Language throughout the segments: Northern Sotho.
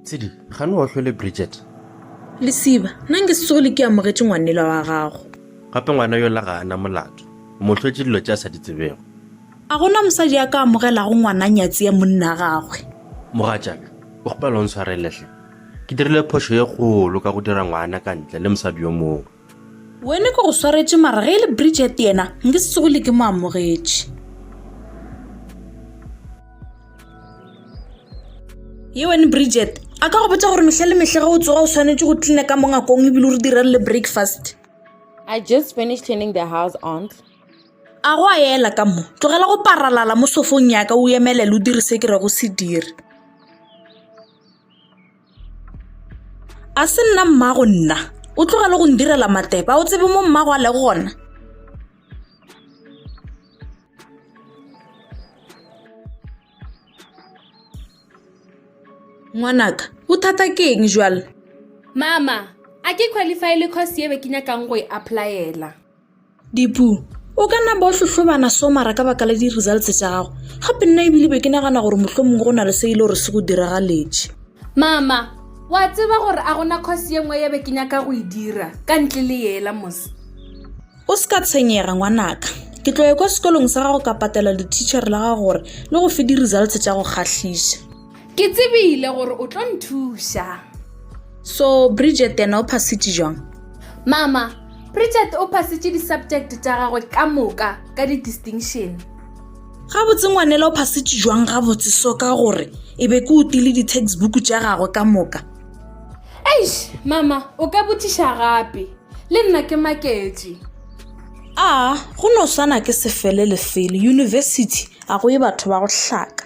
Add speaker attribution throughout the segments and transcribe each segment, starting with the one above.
Speaker 1: tshedi ga ne wa tlhole bridget lesiba nna nke se tsogole ke amogetse ngwanela wa gago gape ngwana yola ga ana molato motlhwetse dilo tse a sa di tsebego a gona mosadi a ka amogelago ngwana nyatsi ya monna gagwe mogatšaka o gopela o ntshwareletlhe ke dirile phošo ye kgolo ka go dira ngwana ka ntle le mosadi yo mongwe Wene ke go swaretše mara ge e le Bridget yena nke se tsogile ke mo amogetše. Ye wene Bridget, a ka go botša gore mehla le mehla ge o tsoga o swanetše go cleana ka mongakong ebile o re direre le breakfast. I just finished cleaning the house, aunt. A go a ela ka mo, tlogela go paralala mo sofong ya ka o emelele o dire se ke rego se dire. a se nna mmago nna o tloga le go ndirela mateba o tsebe mo mmago a le gona ngwanaka o thata ke eng jalo mama a ke qualify le course ebe ke nyakang go e applyela dipu o ka nna bo hlohlobana so mara ka baka la di-results tša gago gape nna ebile be ke nagana gore mohlho mongwe go na le se e le gore se go diragaletše mama wa tseba gore a gona course ye nngwe ye be ke nyaka go e dira ka ntle le yela mose o se ka tshwenyega ngwanaka ke tloye kwa sekolong sa gago ka patela le teacher la gago gore le go fe di-results tša go kgahlisa Ke tsebile gore o tlo nthuša. So Bridget yena o phasitše jwang? Mama, Bridget o phasitše di-subject tša gagwe ka moka ka di-distinction. Gabotse ngwanela o phasitše jwang gabotse so ka gore e be ke o tile di-textbook tša gagwe ka moka? Eish, mama, o ka botšiša gape. Le nna ke maketše. A, go no swana ke sefele lefele. University, a go ye batho ba go hlaka.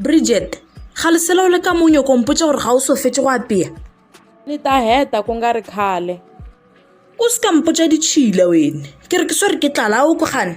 Speaker 1: bridget ga lesela o le ka monyo kompotsa gore ga o so fetse go apea le ta heta ku nga ri khale o se ka mpotsa ditšhila wene ke re ke swere ke tlala o ko gane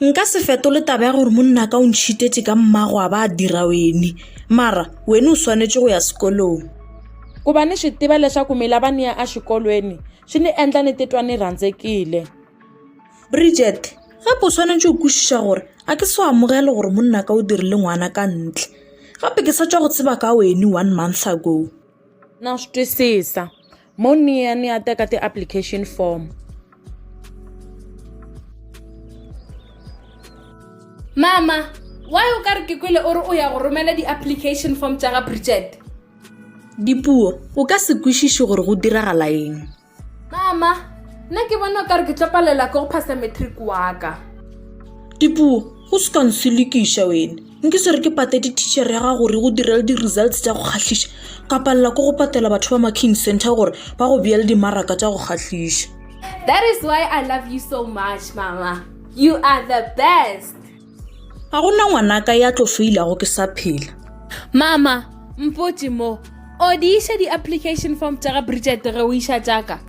Speaker 1: nka se fetole taba ya gore monna ka o ntšhitetse ka mmago a ba a dira wene mara wene o swanetše go ya sekolong ku va ni swi tiva leswaku mi lava ni ya exikolweni swi ni endla ni titwa ni rhandzekile bridget gape o swanetše go kwešiša gore a ke se o amogele gore monna ka o dirile ngwana ka ntle gape ke sa tswa go tseba ka wene one month ago na swi twisisa Mo niya ni ya teka ti-application form. Mama, why o ka re ke kwele o re o ya go romela di-application form tša ga Bridget? Dipuo, o ka se kwešiše gore go diragala eng. Mama, nna ke bona o ka re ke tlo palela ke go phasa matric wa ka. Dipuo, go se ka nselekiša wena. nke se re ke patete teacher ya gago gore go direle di-results tša go kgahliša ka palela ko go patela batho ba marking center gore ba go beele dimaraka tša go kgahliša that is why i love you so much mama you are the best ga go na ngwanaka ya tlo feilago ke sa phela mama mpotse mo o di iša di-application form tša ga bridget ge o iša tšaka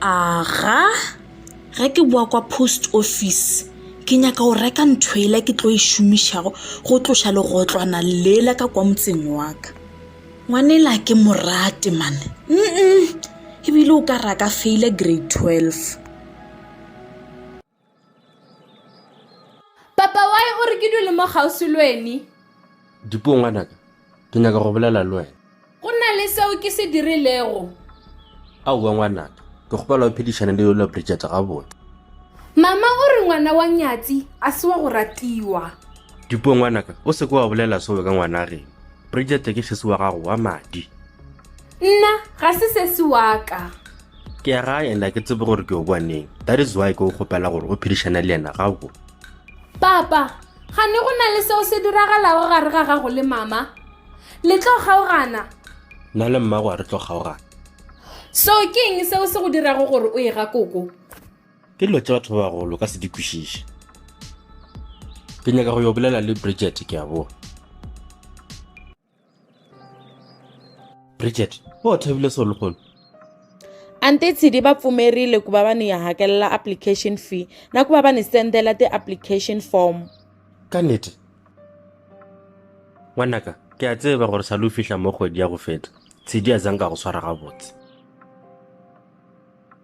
Speaker 1: Aga, ge ke boa kwa post office ke nyaka go reka ntho ela ke tlo e šomišago go tloša legotlwana lela ka kwa motseng wa ka ngwanela ke morate mane mm ebile o ka raka feile grade twelve Papa why o re ke dule mo kgauswi le weni? Dipuo ngwanaka, ke nyaka go bolela le wena. Go na le seo ke se dirilego? Aowa ngwanaka, ke kgopela o phedišane le yola Bridget gabotse. Mama o re ngwana wa Nyatsi a se wa go ratiwa. Dipuo ngwanaka, o seke wa bolela seo ka ngwana rena. Bridget ke sesi wa gago wa madi. Nna ga se sesi wa ka. ke ya gae and a ke tsebe gore ke o boaneng that is why ke o kgopela gore o phedišane le yena ga go papa ga ne go na le seo se diragalago gare ga gago le mama le tlo kgaogana nna le mmago a re tlo kgaogana so ke eng seo se go dirago gore o e ga koko ke dilo tse batho ba bagolo ka se di kwešiše ke nyaka go yo bolela le bridget ke a boa bridget o thabile so lehono ante tshidi va pfumerile ku va va ni hakelela application fee na ku va va ni sendela ti-application form ka nete ngwanaka ke a tseba gore sa lo fihla mo kgwedi ya go feta tshedi a zanka go swara gabotse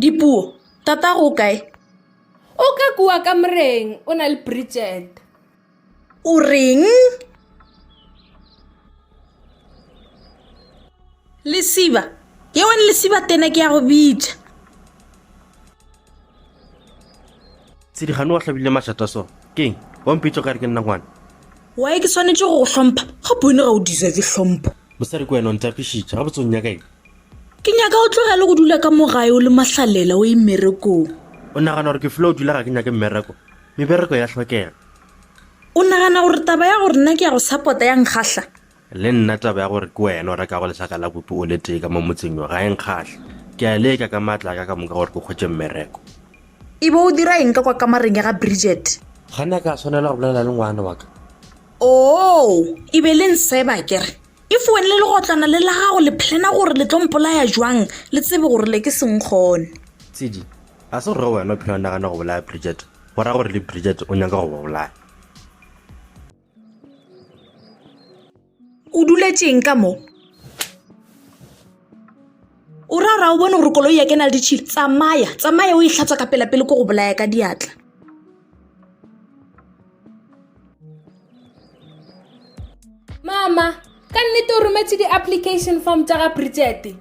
Speaker 1: Dipuo, Tatago o kae? O ka kua kamoreng, o na le Bridget. O reng? Lesiba, yewane lesiba tena ke ya go bitša. tshedikgane wa hlabile mašata so keng wa mpitso ka re ke nna ngwana wae ke tshwanetse go go hlompha ga bone ga o deserve hlompho mosadi ke wena o ntapišitše ga botsong nyaka eng ke nyaka o tlogele go dula ka mogae o le mahlalela o e mmerekong o nagana gore ke fula o dula ga ke nyake mmereko mebereko ya tlhokega o nagana gore taba ya gore nna ke ya go suppota ya nkgahla Le nna taba ya gore ke wena o rekago lesaka la bupi o le tee ka mo motseng yo ga e nkgahle. Ke a leka ka matla a ka ka moka gore ke hwetše mmereko. E be o dira eng ka kwa kamareng ya ga Bridget? Ga na ka swanela go bolela le ngwana wa ka. Oo, e be le nseba ke re. If wena le legotlwana le la gago le plana gore le tlo mpolaya bjang, le tsebe gore le ke se nkgone. Tshidi, Ga se gore wena o phela o nagana go bolaya Bridget, go ra gore le Bridget o nyaka go ba bolaya. o duletšeng ka mo o ra ra o bone gore koloi ya ke na le ditšhile tsamaya tsamaya o e tlhatswa ka pelapele ko go bolaya ka diatla mama ka nnete o rometse di-application form tsa ga bridgete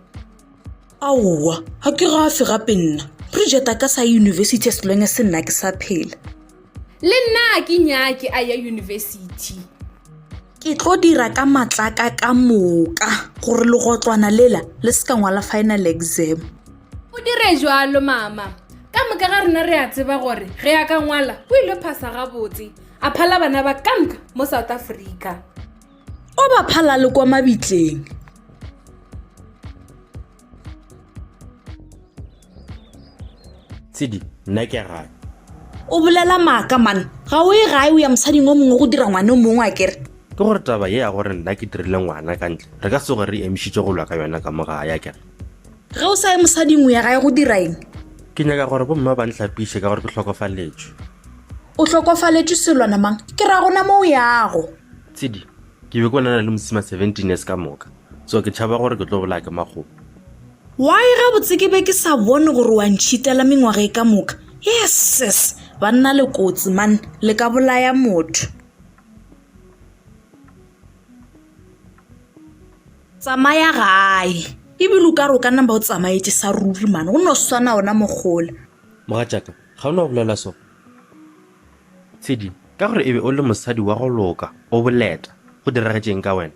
Speaker 1: aowa ga ke gafe gape nna bridgete a ka sa ye university as long as nna ke sa phela Le nna a ke nyake a ya yunibesithi. Ke tlo dira ka matlaka ka moka gore legotlwana lela le se ka ngwala final exam. O dire jalo mama. Ka moka ga rena re a tseba gore ge a ka ngwala o ile phasa gabotse a phala bana ba kamka mo South Africa. O ba phala le kwa mabitleng. tshedi nna ke gae o bolela maaka mane ga o e gae o ya mosading o mongwe go dira ngwane o mongwe a kere ke gore taba ye ya gore nna ke dirile ngwana ka ntle re ka se gore re emišitše go lwa ka yona ka mo gae a kere ge o sa ye mosading o ya gae go dira eng ke nyaka gore bomma ba ntlhapiše ka gore ke hlokofaletše o hlokofaletše selwana mang ke ra gona mo o yago tshedi ke be ko nana le mosima seventeen years ka moka so ke tšhaba gore ke tlo bolaya ke makgopo Why gabotse ke be ke sa bone gore wa ntšhitela mengwaga e ka moka yes sis banna le kotsi man le ka bolaya motho tsamaya gae ebile o ka re o ka namba o tsamaetse sa ruri mane go no swana ona mogola mogatšaka ga o ne o bolela so tshedi ka gore e be o le mosadi wa go loka o boleta go diragetšeng ka wena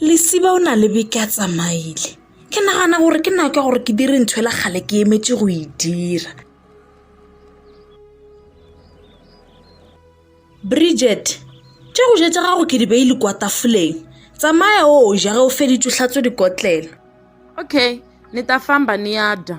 Speaker 1: lesiba o na le beke a tsamaile ke nagana gore ke nako ya gore ke dire ntho e la kgale ke emetše go e dira bridget tša go jetša gago ke di beile kwa tafoleng tsamaya o ja ge o feditse tlhatso dikotlelo okay ni ta famba ni ya dya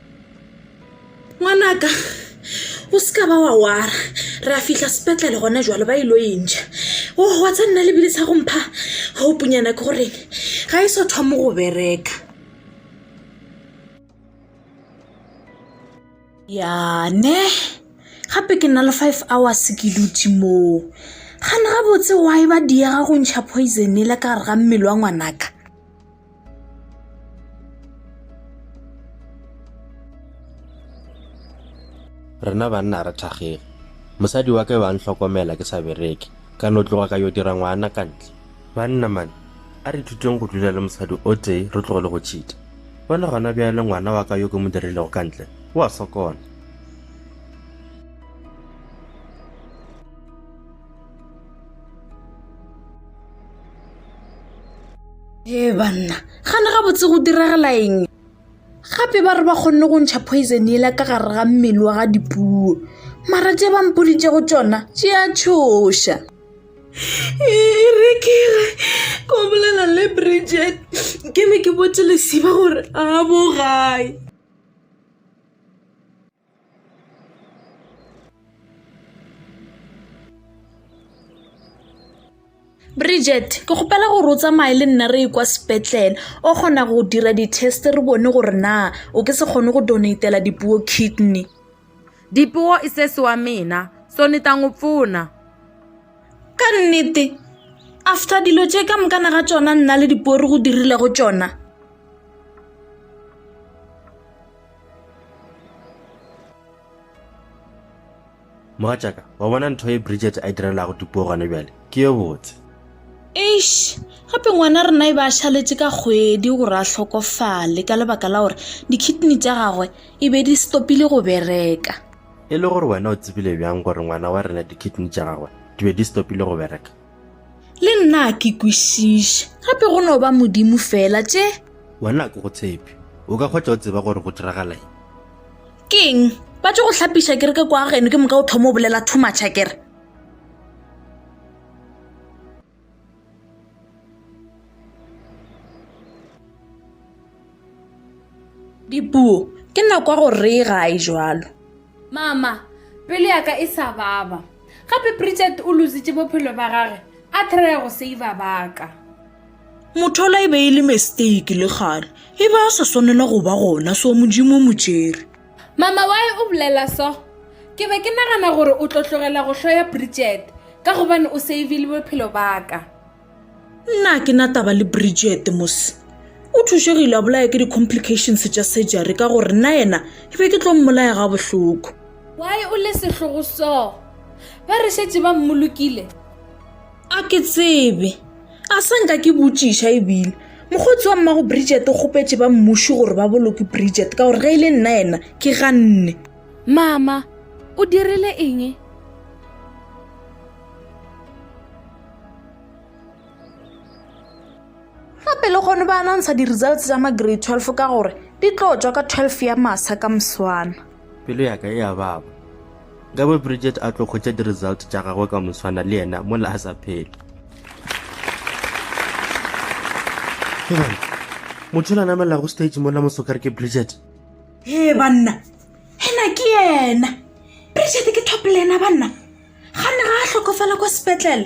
Speaker 1: ngwanaka o se ka ba wa wara re a fihla sepetlele gona jalo ba ilo entšha o wa tsa nna lebile sa go mpha gaupunyana ke goreng ga e so thoma go bereka yane gape ke nna le five hours ke dutse moo gane gabotse wa e ba diega go ntšha poison e le ka gare ga mmele wa ngwanaka rena banna re thakgege mosadi wa ka yo a ntlhokomela ke sa bereke ka no tloga ka yo dira ngwana ka ntle banna mane a re thuteng go dula le mosadi o tee re tlogole go tšhita bona gona bjale ngwana wa ka yo ke mo dirilego ka ntle o a sokola ee banna gane gabotse go diragala eng gape ba re ba kgonne go ntšha poison ela ka gare ga mmele wa ga dipuo mara tše ba mpoditšego tšona tše a tšhoša erekere ko bolela le bridget ke be ke botse lesiba gore a bo gae bridget ke kgopela gore o tsamaye le nna re e kwa sepetlele o kgona go dira di-test re bone gore na o ke se kgone go donatela dipuo kidney dipuo e sese wa mina so ni ta n'wi pfuna ka nnete after dilo tše ka mokana ga tsona nna le dipuo re go dirile go tsona mogatšaka wa bona ntho e bridget a e direlago tupuo gone bjale ke yo botse eish gape ngwana rena e ba a šaletše ka kgwedi gore a hlokofale ka lebaka la gore dikidney tša gagwe e be di stopile go bereka e le gore wena o tsebile bjang gore ngwana wa rena dikidney tša gagwe di be di stopile go bereka le nna ke kwešiše gape go no ba modimo fela tše wena ke go tshepe o ka kgwetša o tseba gore go diragala eng keng ba tse go tlhapiša kere ke kwa geno ke moka o thoma o bolela thumatšha kere Dipuo, ke nna kwa go reye ga a e jalo. Mama, pelo ya ka e sa baba. Gape Bridget o luzitše bophelo ba gage a thraya go seiva ba ka. Mothola e be e le mistake le gale. E be a sa swanela go ba gona so Modimo mo tšere. Mama, why o bolela so? Ke be ke nagana gore o tlo tlogela go hloya Bridget ka gobane o seivile bophelo ba ka. nna ke na taba le bridget mos o thušegile a bolaya ke di-complications tša surgery ka gore nna yena ke be ke tlo mmolaya ga bohloko why o le sehlogo so ba re šetse ba mmolokile a ke tsebe a sa nka ke botšiša ebile mokgotsi wa mmago bridget o kgopetše ba mmuši gore ba boloke bridget ka gore ge e le nna yena ke ganne mama o dirile eng gape le gone ba anantsha di-results tsa ma-grade 12 ka gore di tlo tswa ka 12 ya masa ka moswana pelo yaka e a baba ka bo bridget a tlo kgwetša di-result tša gagwe ka moswana le yena mola a sa phele motho la namelago stage mola mosokare ke bridget e banna ena ke yena bridget ke top lena banna ga ne ga a hlokofala kwa sepetlele